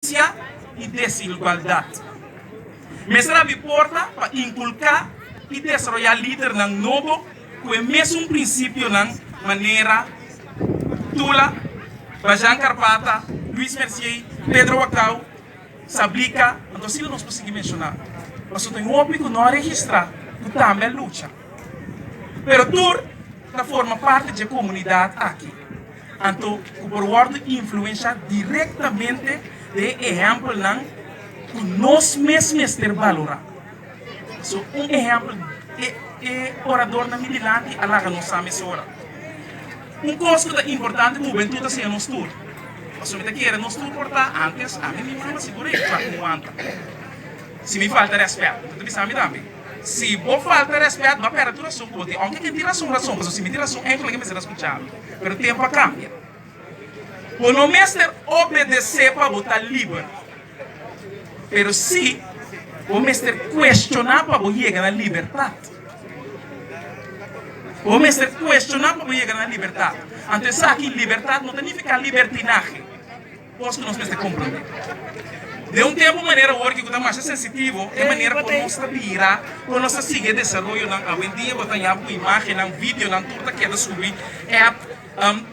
injusticia y desigualdad. Mester abi porta pa inculca y desaroya lidernan nobo cu e mesun principionan manera Tula, Bajan Carpata, Luis Mercier, Pedro Wacau, Sablica, anto asina nos por sigui menciona. Pasobra tin hopi cu no a registra cu tambe a lucha. pero tur ta forma parti dje komunidat aki, anto ku por wòrdu influenshá direktamente den e ehèmpelnan ku nos mes mester balorá. So un ehèmpel, e e oradornan mi dilanti a laga nos sa mesora. Un kos ku ta importante ku hubentut ta siña nos tur, pasobra mi ta kere nos tur por ta ántes ami mismu, mi ta sigur ei, mi por wanta si mi falta rèspèt, mi ta bisa ami tambe. Si bo falta respet bo a perde tur rasun ku bo tin, ounke tin rasun rasun, pasobra si mi tin rasun enkel ke mi mester a skucha mi. Pero tempu a kambia. Bo no mester obedesé pa bo ta liber, pero sí bo mester kuestioná pa bo yega na libertat. Bo mester kuestioná pa bo yega na libertat. Anto esaki libertat no ta nifiká libertinahe. Kos ku nos mester komprondé. Den un tempu manera awor ku ta masha sensitivo, e manera por nos ta bira, por nos ta sigui e desaroyonan awendia bo ta yama ku imágennan, videonan, tur ta keda subi app,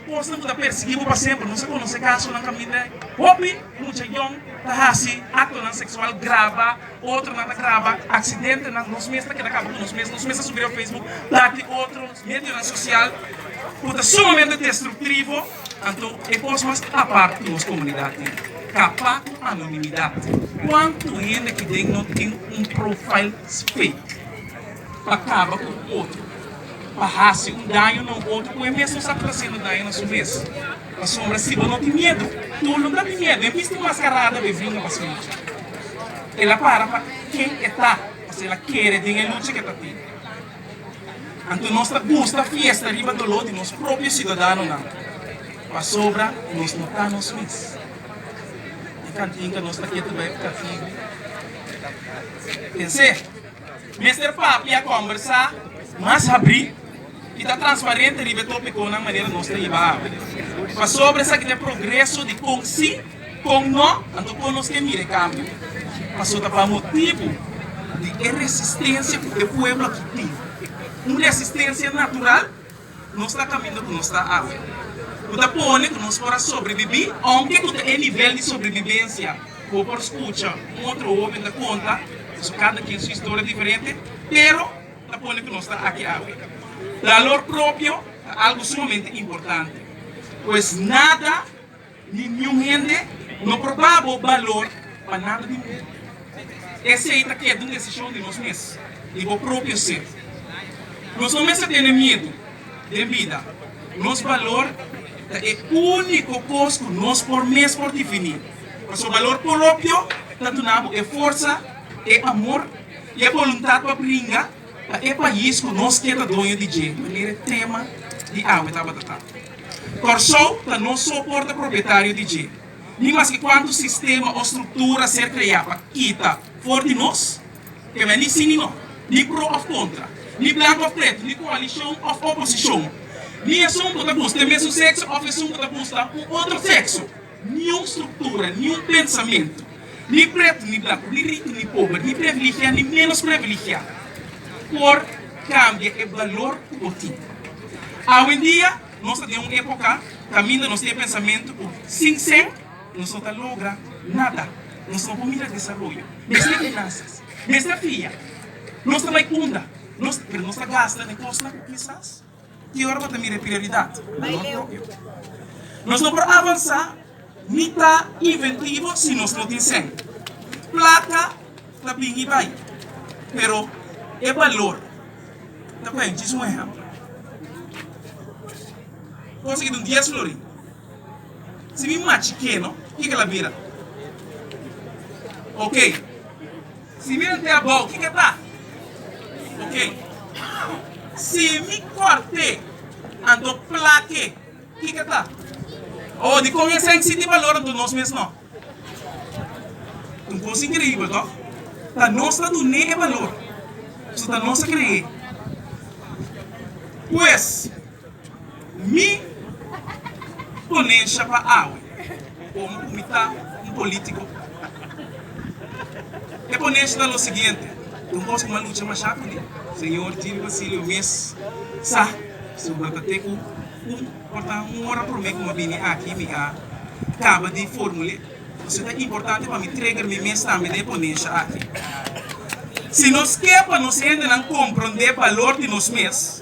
kosnan ku ta persiguí bo pa semper. Nos a konosé kasonan kaminda hopi mucha yòn ta hasi aktonan seksual, graba, otronan ta graba aksidentenan, nos mes ta keda kaba ku nos mes, nos mes ta subi riba facebook parti otro medionan sosial ku ta sumamente destruktivo. Anto e kos mas apart ku nos komunidat tin kapa ku anonimidat. Kuantu hende ki den no tin un profail fake pa kaba ku un otro, pa hasi un daño na un otro ku e mes no sa ku ta hasiendo daño na su mes? Pasobra siba no tin miedu, tur lo ta tin miedu. E misti maskarada be bringa pa su lucha. El a para pa ken e ta, pasobra el a kere den e lucha ku e ta tin. Anto nos ta gusta fiesta riba doló di nos propio ciudadanonan pasobra nos no ta nos mes. E cantinca nos ta keda bai cativo. Pensé, mester papia, combersa, mas habrí y ta transparente riba e topiconan manera nos ta iba awe. Pasobra esaki ta e progreso di con si. Con no? Anto con nos ke mira e cambio? Paso ta pa motibo di e resistencia cu e pueblo aki tin. Un resistencia natural, nos ta caminda cu nos ta awe, cu ta pone cu nos por a sobrebibi, aunke cu ta e nivel di sobrebibencia bo por scucha un otro hoben ta conta, paso cada quien su historia diferente, pero ta pone cu nos ta aki awe. Dalor propio ta algo sumamente importante, pues nada Ningún hende no por ba bo balor pa nada di mundu. Esei ta keda un desishon di nos mes, di bo propio ser. Nos no mester tene miedu den bida. Nos balor ta e úniko kos ku nos por mes por difiní. Pasobra balor poropio ta duna bo e forsa, e amor i e boluntat pa bringa. Na e pais ku nos keda doño di dje manera e tema di awe tabata ta. Kòrsou ta no so por ta propietario di dje, ni maske kuantu sistema o struktura ser kreá pa kita for di nos, ke mester ni sí ni no, ni pro òf kontra, ni blanku òf pretu, ni koalishon òf oposishon, ni esun ku ta buska e mesun sekso òf esun ku ta buska un otro sekso. Niun struktura, niun pensamentu, ni pretu ni blanku, ni riku ni pober, ni previligiá ni ménos previligiá, por kambia e balor ku bo tin. Awendia nos ta den un époka kaminda nos tin e pensamentu ku sin sen nos no ta logra nada, nos no por mira desaroyo, mester finansias, mester fia, nos ta bai unda, nos, pero nos ta gasta na kosnan ku kisas. i ora bo ta mira e prioridad na nos propio. Nos no por avansa ni ta inventivo si nos no tin sèn. Plaka ta bin i bai, pero e balor ta kuenta. Djis un ehèmpel, Kon si kitin dies florin? Si mi machi keno, kiko el a bira? Oke. Si mi lo tea bou, kiko e ta? Ok. Si mi kòrt'e, anto plak'e, kiko e ta? Oh, di kon esei sinti balor anto nos mes nò? Un kos inkreibel, tò? Ta nos ta dun'é e balor, pasobra ta nos a kre'é. Pues. Mi ponencia pa awe como cu mi ta un politico. E ponencia ta lo siguiente, tin un cos cu mi a lucha masha cu di, señor Jimmy Basilio mes sa asunta ta te cu un porta un ora prome cu mi a bini aki mi a caba di formule pasobra ta importante pa mi trigger mi mes tambe na e ponencia aki. Si nos ke pa nos hendenan compronde balor di nos mes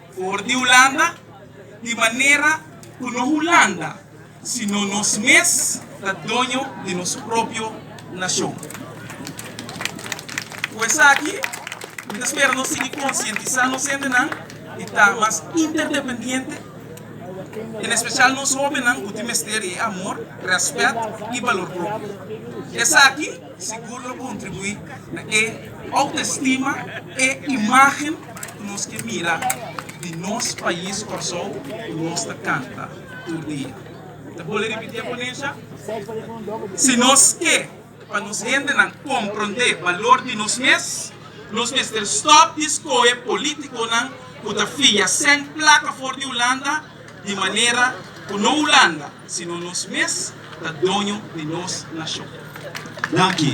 For di Hulanda, di manera ku no Hulanda, sino nos mes ta doño di nos propio nashon. Ku esaki, mi ta spera nos sigui konsientisá nos hendenan di ta mas interdependiente, en espesial nos hóbennan ku tin mester di e amor, rèspèt i balor propio. Esaki sigur lo kontribuí na e outestima, e imágen Ku nos ke mira di nos pais Kòrsou ku nos ta kanta tur dia. Ta bole ripitié ponesha? Si nos ke pa nos hendenan komprondé balor di nos mes, nos mester stòp di skohe polítikonan ku ta fia sèn plaka for di Hulanda di manera ku no Hulanda sino nos mes ta doño di nos nashon. Danki.